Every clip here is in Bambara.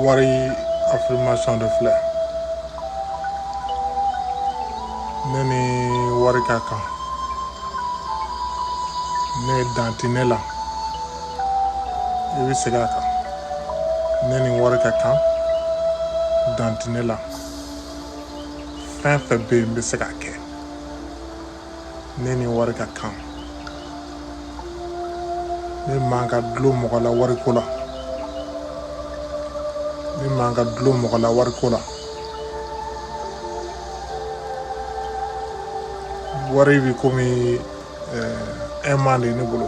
wari affirmation de filɛ ne ni wari ka kan ne dan tɛ ne la i bɛ segin a kan ne ni wari ka kan dan tɛ ne la fɛn fɛn bɛ yen n bɛ se k'a kɛ ne ni wari ka kan ne man ka dulon mɔgɔ la wariko la ne man ka dulon mɔgɔ la wariko la wari bɛ komi ɛɛ eh, aimant de ne bolo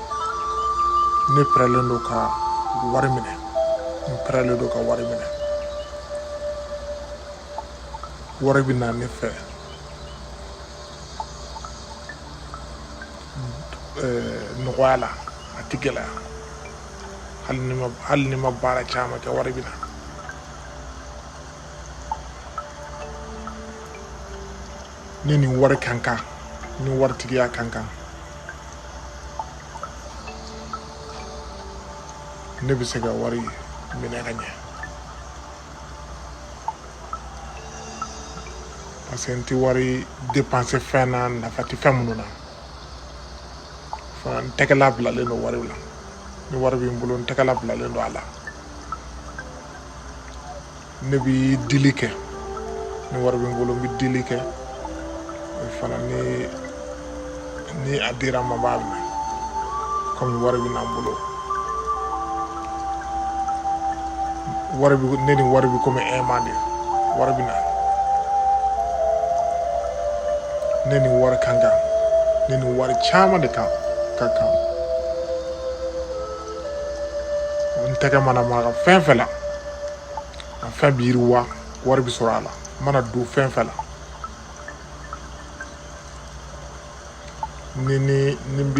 ne pɛrɛlen don ka wari minɛ n pɛrɛlen don ka wari minɛ wari bɛ na ne fɛ nɔgɔya la a tɛ gɛlɛya hali ni n ma baara caman kɛ wari bɛ na ne ni wari ka kan ni waritigiya ka kan ne bɛ se ka wari minɛ ka ɲɛ parce que n tɛ wari dépenser fɛn na nafa tɛ fɛn minnu na fana n tɛgɛla bilalen don wari la ni wari bɛ n bolo n tɛgɛla bilalen don a la ne bɛ dili kɛ ni wari bɛ n bolo n bɛ dili kɛ fana ni a dira n ma n b'a minɛ kɔmi wari bɛ na n bolo wari bɛ ne ni wari bɛ komi aimant de wari bɛ na ne ni wari ka kan ne ni wari caman de ka kan n tɛgɛ mana maga fɛn fɛn la a fɛn bɛ yiriwa wari bɛ sɔrɔ a la n mana don fɛn fɛn la ni n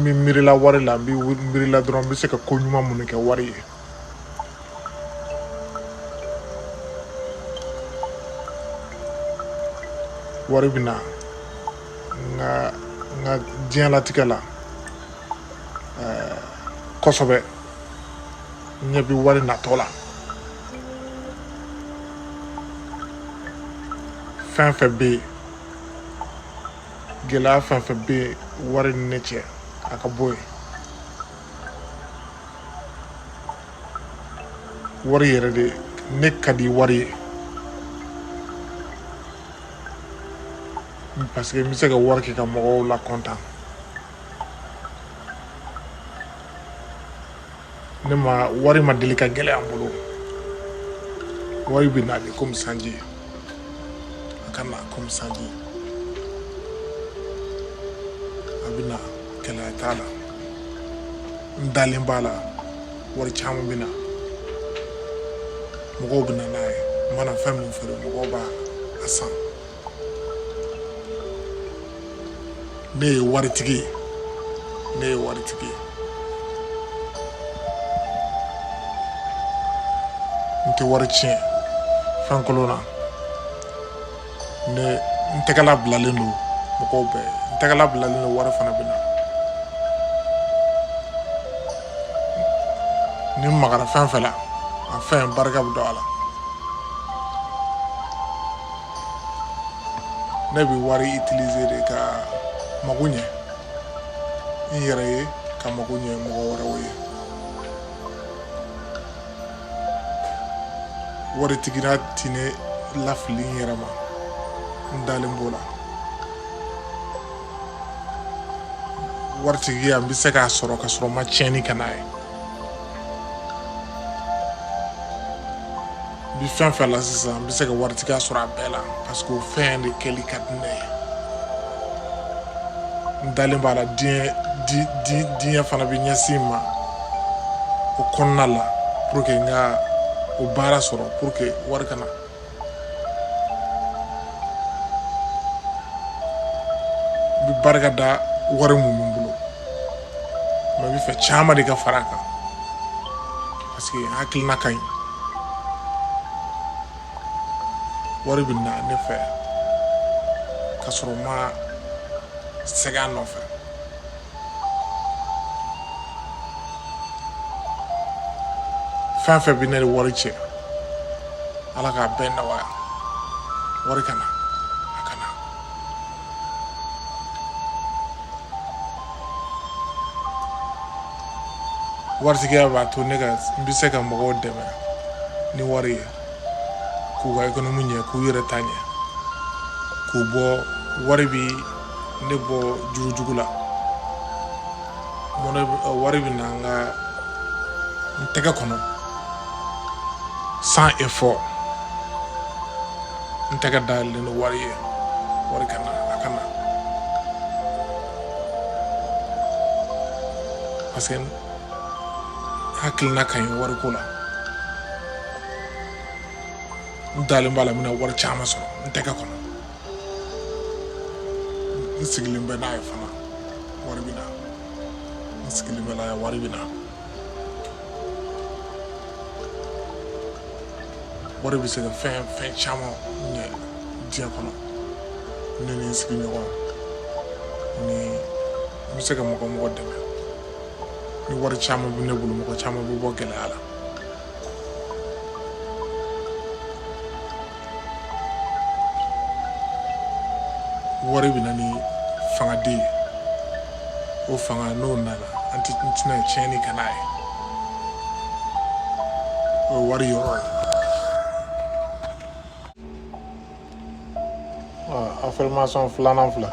bɛ miirila wari la n bɛ miirila dɔrɔn n bɛ se ka ko ɲuman minnu kɛ wari ye wari bɛ na n ka diɲɛlatigɛ la kosɛbɛ ɲɛ bɛ wari natɔ la fɛn fɛn bɛ yen gɛlɛya fɛn fɛn bɛ yen wari ni ne cɛ a ka bɔ yen wari yɛrɛ de ne ka di wari ye parce que n bɛ se ka wari kɛ ka mɔgɔw lakɔntan ne ma wari ma deli ka gɛlɛya n bolo wari bɛ na de komi sanji a ka na komi sanji a bɛ na gɛlɛya t'a la n dalen b'a la wari caman bɛ na mɔgɔw bɛ na n'a ye n mana fɛn min feere mɔgɔw b'a san ne ye waritigi ye ne ye waritigi ye n tɛ wari tiɲɛ fɛn kolon na ne n tɛgɛla bilalen don mɔgɔw bɛɛ n tɛgɛla bilalen don wari fana bɛ na ni n magara fɛn fɛn la a fɛn barika bɛ don a la ne bɛ wari utiliser de ka mago ɲɛ n yɛrɛ ye ka mago ɲɛ mɔgɔ wɛrɛw ye waritigiya tɛ ne lafili n yɛrɛ ma n dalen b'o la waritigiya n bɛ se k'a sɔrɔ ka sɔrɔ n ma tiɲɛni kɛ n'a ye n bɛ fɛn fɛn la sisan n bɛ se ka waritigiya sɔrɔ a bɛɛ la parce que o fɛn de kɛli ka di ne ye n dalen b'a la di diɲɛ fana bɛ ɲɛsin n ma o kɔnɔna la pour que n ka o baara sɔrɔ pour que wari ka na n bɛ barika da wari mun bɛ n bolo mais n bɛ fɛ caman de ka fara a kan Parce que hakilina ka ɲi wari bɛ na ne fɛ ka sɔrɔ n ma sɛgɛn a nɔfɛ fɛn fɛn bɛ ne ni wari cɛ ala k'a bɛɛ nɔgɔya wari ka na a ka na waritigiya b'a to ne ka n bɛ se ka mɔgɔw dɛmɛ ni wari ye k'u ka ekonomi ɲɛ k'u yɛrɛ ta ɲɛ k'u bɔ wari bi ne bɔ juru jugu la mɔnɛ wari bɛ na n ka n tɛgɛ kɔnɔ sans effort n tɛgɛ dayɛlɛlen don wari ye wari ka na a ka na parce que hakilina ka ɲi wariko la n dalen b'a la n bɛna wari caman sɔrɔ n tɛgɛ kɔnɔ n sigilen bɛ n'a ye fana wari bɛ na n sigilen bɛ n'a ye wari bɛ na wari bɛ se ka fɛn fɛn caman ɲɛ diɲɛ kɔnɔ ne ni n sigiɲɔgɔn ni n bɛ se ka mɔgɔ mɔgɔ dɛmɛ ni wari caman bɛ ne bolo mɔgɔ caman bɛ bɔ gɛlɛya la wari bɛ na ni fanga de ye o fanga n'o nana an tɛ n tɛna tiɲɛni kɛ n'a ye o ye wari yɔrɔ ye affirmation filanan filɛ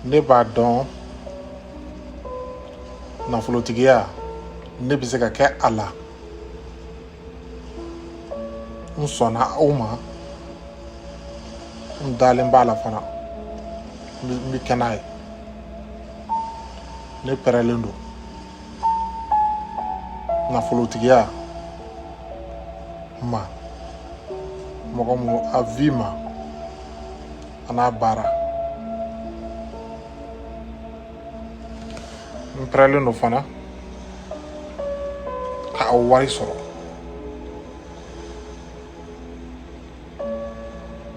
ne b'a dɔn nafolotigiya ne bɛ se ka kɛ a la n sɔnna o ma n dalen b'a la fana n bɛ kɛ n'a ye ne pɛrɛlen don nafolotigiya ma mɔgɔ mun a vie ma an'a baara n pɛrɛlen don fana ka aw wari sɔrɔ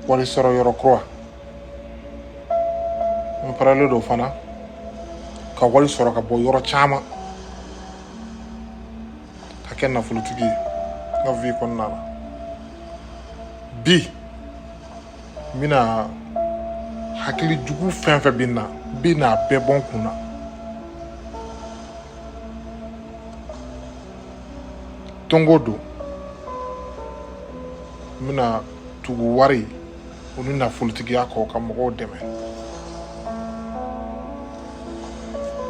wari sɔrɔ yɔrɔ kura n pɛrɛlen don fana ka wari sɔrɔ ka bɔ yɔrɔ caman ka kɛ nafolotigi ye n ka vie kɔnɔna la bi n bɛna hakili jugu fɛn fɛn bɛ n na n bɛna a bɛɛ bɔ n kun na don o don n bɛna tugu wari o ni nafolotigiya kɔ ka mɔgɔw dɛmɛ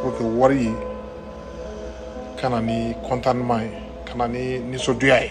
pour que wari ye ka na ni contentement ye ka na ni nisɔndiya ye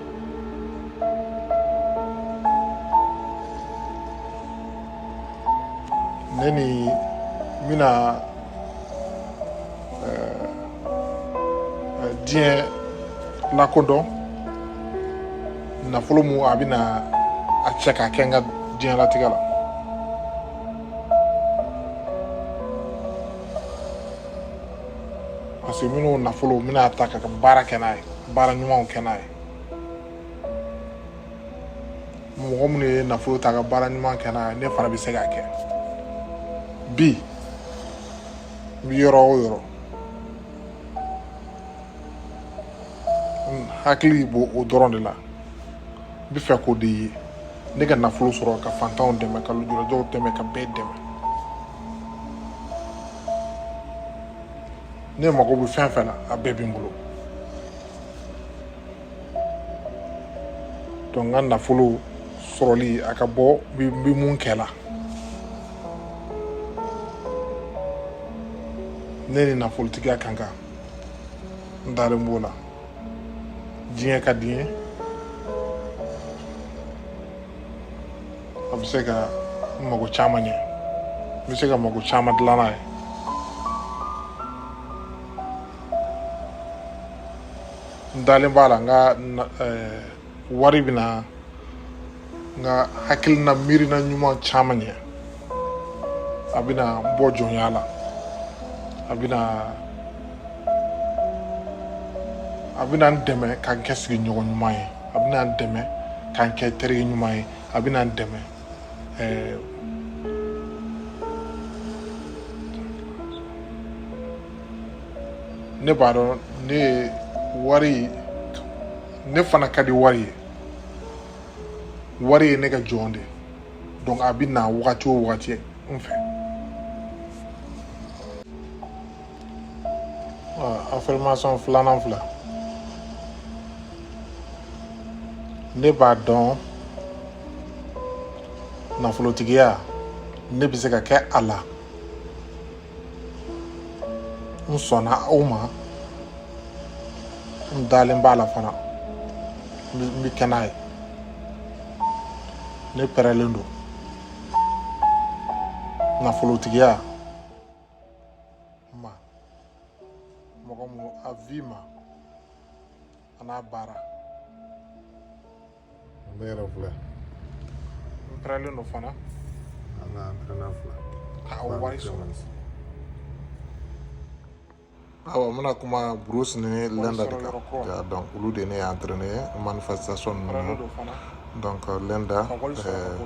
ne ni n bɛna diɲɛ lakodɔn nafolo mun a bɛna a cɛ k'a kɛ n ka diɲɛlatigɛ la parce que n bɛna o nafolo n bɛna a ta ka baara kɛ n'a ye baara ɲumanw kɛ n'a ye mɔgɔ minnu ye nafolo ta ka baara ɲuman kɛ n'a ye ne fana bɛ se k'a kɛ bi n bɛ yɔrɔ o yɔrɔ n hakili b'o o dɔrɔn de la n bɛ fɛ k'o de ye ne ka nafolo sɔrɔ ka fantanw dɛmɛ ka lujuratɔw dɛmɛ ka bɛɛ dɛmɛ ne mago bɛ fɛn fɛn na a bɛɛ bɛ n bolo donc n ka nafolo sɔrɔli a ka bɔ n bɛ mun kɛ la ne ni nafolotigiya ka kan n dalen b'o la diɲɛ ka di n ye a bɛ se ka mago caman ɲɛ n bɛ se ka mago caman dilan n'a ye n dalen b'a la n ka eh, wari bɛna n ka hakilina miirina ɲuman caman ɲɛ a bɛna n bɔ jɔnya la a bɛna a bɛna n dɛmɛ ka n kɛ sigiɲɔgɔn ɲuman ye a bɛna n dɛmɛ ka n kɛ terikɛ ɲuman ye a bɛna n dɛmɛ ɛɛ ne b'a dɔn ne ye wari ne fana ka di wari ye wari ye ne ka jɔn de donc a bɛ na wagati o wagati n fɛ affirmation filanan filɛ ne b'a dɔn nafolotigiya ne bɛ se ka kɛ a la n sɔnna o ma n dalen b'a la fana n bɛ kɛ n'a ye ne pɛrɛlen don nafolotigiya ma mɔgɔ mun a vi ma a n'a baara ne yɛrɛ filɛ n pɛrɛlen don fana an ka an pɛrɛnna fila ka o wari sɔrɔ awa n bɛna kuma bruce ni linda de kan ya donc olu de ne ye entraîné manifestation ninnu donc euh, linda euh,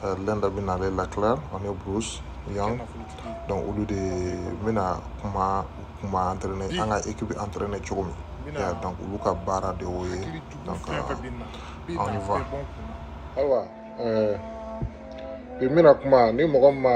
euh, linda bɛna ale leclaire ani bruce young donc olu de bɛna kuma kuma entraîné an ka équipe entraîné cogo min ya donc olu ka baara de y'o ye donc on y va awa bi n bɛna kuma ni mɔgɔ min ma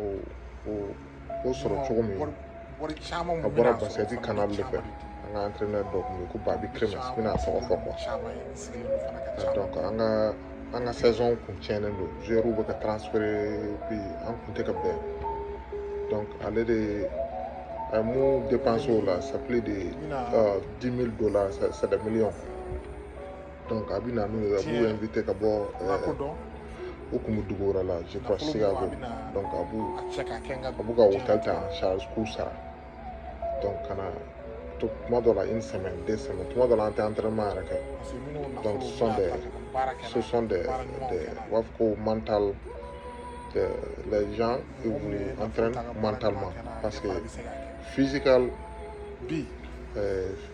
o o o sɔrɔ cogo min a bɔra basikɛti canal de fɛ an ka entraîneur dɔ tun bɛ ko Bobby Cremins n bɛna a tɔgɔ fɔ quoi donc an ka an ka saison kun tiɲɛnen don joueurs bɛ ka transférer puis an kun tɛ ka bɛn donc ale de a ye mun dépenser o la ça plus de euh, dix mille dollars c'est des millions donc a bɛ na n'u ye a b'u invité ka bɔ u kun bɛ dugu wɛrɛ la je crois Chicago donc a b'u a b'u ka hôtel ta en charge k'u sara donc ka na to tuma dɔ la une semaine deux semaines tuma dɔ la an tɛ entraînement yɛrɛ kɛ donc ce sont des ce sont des des u b'a fɔ ko mental des les gens ils vous entraînent mentalement parce que physical bi euh,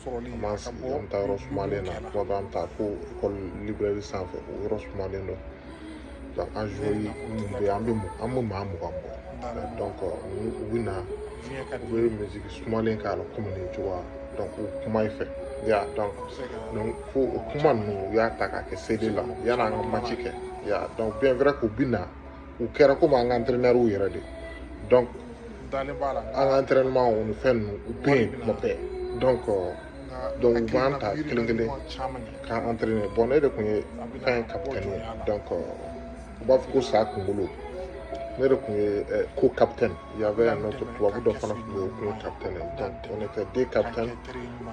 sɔrɔli an b'an sigi an bɛ taa yɔrɔ sumalen na kuma dɔ an bɛ taa fo école librairie sanfɛ o yɔrɔ sumalen don donc an joueurs minnu bɛ yen an bɛ an bɛ maa mugan bɔ donc u bɛ na u bɛ miziki sumalen k'a la komi nin cogoya donc u kuma i fɛ ya donc donc fo o kuma ninnu u y'a ta k'a kɛ CD la yan'an ka maci kɛ ya donc bien vrai k'u bɛ na u kɛra komi an ka entraîneurw yɛrɛ de donc an ka entraînement o ni fɛn ninnu u bɛ yen kuma bɛɛ donc euh, donc u b'an ta kelen kelen k'an entraîner bon ne de tun ye fɛn capitaine ye donc euh, u b'a fɔ ko sa kunkolo ne de tun ye euh, co-capitaine il y avait un autre tubabu dɔ fana tun bɛ yen o tun ye capitaine ye donc on était deux capitaines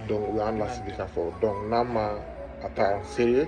donc u y'an lasigi k'a fɔ donc n'a ma a ta en sérieux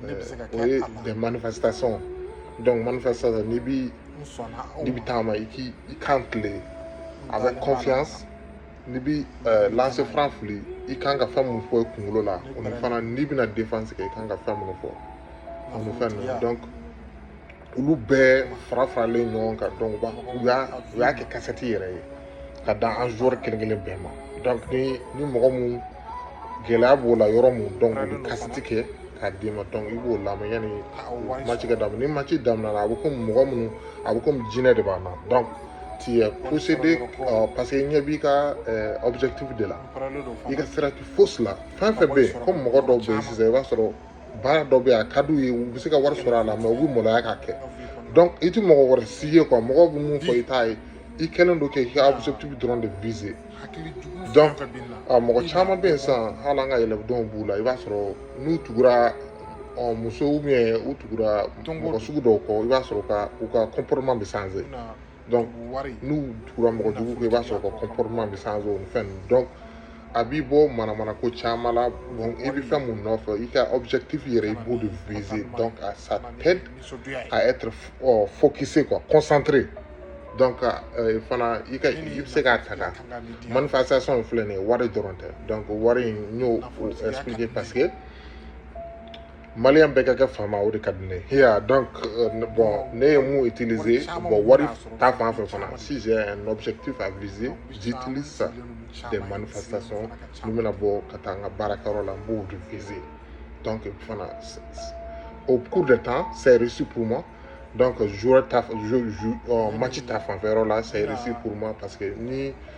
ne bɛ se ka kɛ a la o ye des manifestations donc manifestation n'i bi n'i bi taama i k'i i kan tilen avec confiance n'i bi lancer franc fili i kan ka fɛn mun fɔ i kunkolo la o ni fana n'i bɛna défense kɛ i kan ka fɛn minnu fɔ o ni fɛn ninnu donc olu bɛɛ fara faralen ɲɔgɔn kan donc u y'a u y'a kɛ kasɛti yɛrɛ ye k'a d'an joueurs kelen kelen bɛɛ ma donc ni ni mɔgɔ mun gɛlɛya b'o la yɔrɔ mun donc u bɛ kasɛti kɛ k'a d'i ma donc i b'o lamɛn yanni maci ka daminɛ ni maci daminɛna a bɛ komi mɔgɔ minnu a bɛ komi jinɛ de b'a na donc tu es possédé parce que i ɲɛ b'i ka objectif de la i ka sira tɛ fosi la fɛn fɛn bɛ yen komi mɔgɔ dɔw bɛ yen sisan i b'a sɔrɔ baara dɔ bɛ yen a ka d'u ye u bɛ se ka wari sɔrɔ a la mais u bɛ maloya k'a kɛ donc i tɛ mɔgɔ wɛrɛ si ye quoi mɔgɔw bɛ mun fɔ i t'a ye i kɛlen don k'i ka objectif dɔrɔn de viser donc a mɔgɔ caman bɛ yen sisan hali an ka élèves dɔw b'u la i b'a sɔrɔ n'u tugura ɔ muso ou bien u tugura mɔgɔ sugu dɔw kɔ i b'a sɔrɔ ka u ka comportement bɛ changer donc n'u tugura mɔgɔ jugu kɔ i b'a sɔrɔ u ka comportement bɛ changer o ni fɛn donc a b'i bɔ manamana ko caman la bon i bɛ fɛn mun nɔfɛ i ka objectif yɛrɛ i b'o de viser donc à ça t'aide à être oh, focusé quoi concentré donc euh, fana i ka i bɛ se k'a ta ka manifestation in filɛ nin ye wari dɔrɔn tɛ donc wari in n y'o expliquer parce que maliyɛn bɛɛ ka kɛ faama o de ka di ne ye ya donc euh, bon ne ye mun utiliser bon wari ta fan fɛ fana si j'ai un objectif à viser j'utilise ça des manifestations ni n bɛna bɔ ka taa n ka baarakɛyɔrɔ la n b'o de viser donc fana au cours de temps c'est réussi pour moi donc joueur ta euh, match ta fanfɛ yɔrɔ la c'est réussi pour moi parce que ni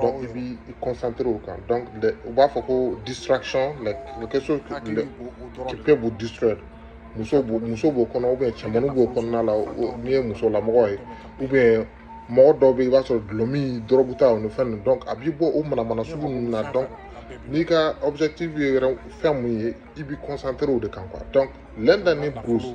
donc i b'i concentré o kan donc u b'a fɔ ko distraction like quelque chose qui peut vous distraire muso b'o muso b'o kɔnɔ ou bien cɛmannin b'o kɔnɔna la n'i ye musolamɔgɔ ye ou bien mɔgɔ dɔw bɛ yen i b'a sɔrɔ dulɔmi dɔrɔgu ta o ni fɛn ninnu donc a b'i bɔ o manamana sugu ninnu na donc n'i ka objectif ye yɛrɛ fɛn mun ye i b'i concentré o de kan quoi donc l'un d'année brousse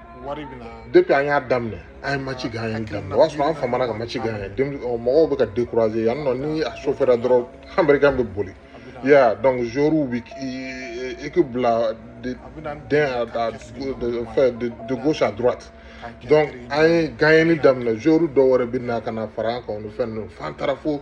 wari bɛ na depuis an y'a daminɛ an ye match gagner daminɛ o y'a sɔrɔ an famana ka match gagner mɔgɔw bɛ ka décourager yan nɔ ni a chaufféra dɔrɔn américain bɛ boli ya donc joueurs bɛ équipe bila ten a fɛ de gauche à droite donc an ye gagner daminɛ joueurs dɔw wɛrɛ bɛ na ka na fara an kan o ni fɛn ninnu f'an taara fo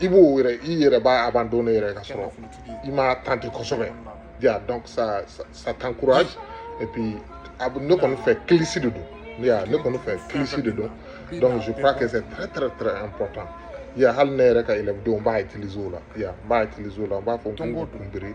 i b'o yɛrɛ i yɛrɛ b'a abandonné yɛrɛ ka sɔrɔ i m'a tenter kosɛbɛ ya donc ça ça t'encourage et puis a ne kɔni fɛ kilisi de don ya ne kɔni fɛ kilisi de don donc je crois que c'est très très très important ya hali ne yɛrɛ ka élève dɔw n b'a utiliser o la ya n b'a utiliser o la n b'a fɔ n ko kunbiri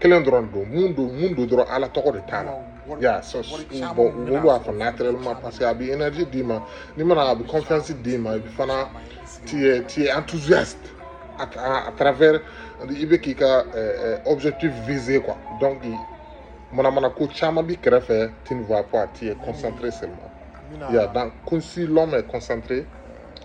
kelen dɔrɔn don mun don mun don dɔrɔn ala tɔgɔ de t'a la ya so bon olu b'a fɔ naturellement parce que a bɛ énergie d'i ma n'i mana a bɛ confiance d'i ma i fana tu es tu es enthousiaste à, à, à travers i bɛ k'i ka euh, objectif visé quoi donc manamana ko caman b'i kɛrɛfɛ tu ne vois pas tu es concentré seulement ya donc kun si l'homme est concentré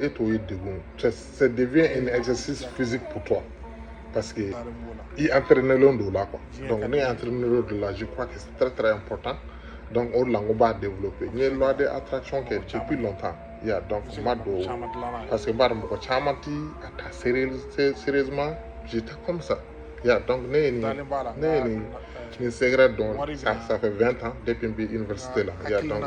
e t'o ye degun ça devient un exercice physique pour toi parce que i entraînelen don o la quoi donc ne entraînelen don o la je crois que c'est très très important donc o de la n ko n b'a développer n ye loi de attraction kɛ depuis longtemps ya donc n m'a dɔn parce que n b'a dɔn mɔgɔ caman ti a ta sérieusement j'étais comme ça ya donc ne ye nin ne ye nin nin secret dɔn ça ça fait 20 ans depuis n bɛ université la ya donc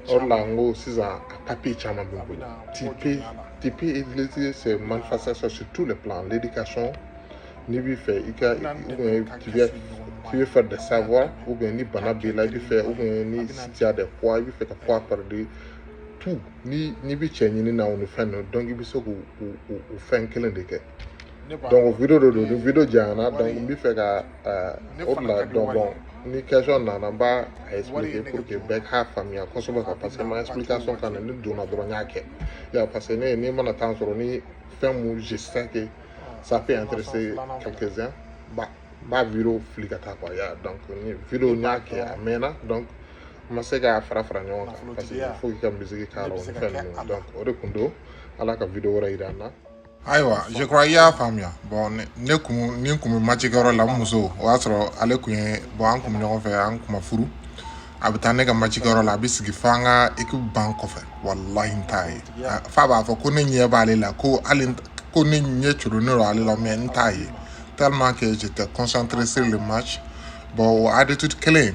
o de la n ko sisan a papier caman b'i bolo tu peux tu peux utiliser ces manifestations sur tous les plans l'éducation n'i bɛ fɛ i ka tu veux tu veux faire des savoirs ou bien ni bana b'i la i bɛ fɛ ou bien ni si tu as des poids i bɛ fɛ ka poids perdre tout ni n'i bɛ cɛ ɲini na o ni fɛn ninnu donc i bɛ se k'o o o fɛn kelen de kɛ donc video de don ni video janyana donc n bɛ fɛ ka o de la donc bon ni question nana n b'a a expliquer pour que bɛɛ k'a faamuya kosɛbɛ quoi parce que ma explication kan ni donna dɔrɔn n y'a kɛ ya parce que ne ni n mana temps sɔrɔ ni fɛn mun je sais que ça peut intéresser quelques uns ba n b'a video fili ka taa quoi ya donc ni video n y'a kɛ a mɛnna donc n ma se k'a fara fara ɲɔgɔn kan parce que il faut k'i ka musique k'a la o ni fɛn ninnu donc o de tun don ala ka video wɛrɛ yira an na ayiwa je crois i y'a faamuya bon ne ne kun ni n kun bɛ macikɛyɔrɔ la n muso o y'a sɔrɔ ale kun ye bon an kun bɛ ɲɔgɔn fɛ an kun ma furu a bɛ taa ne ka macikɛyɔrɔ la a bɛ sigi fo an ka ekipu banc kɔfɛ walahi n t'a ye A- f'a b'a fɔ ko ne ɲɛ b'ale la ko hali n t- ko ne ɲɛ coronnen don ale la mais n t'a ye tellement que j'étais concentré sur le match bon o attitude kelen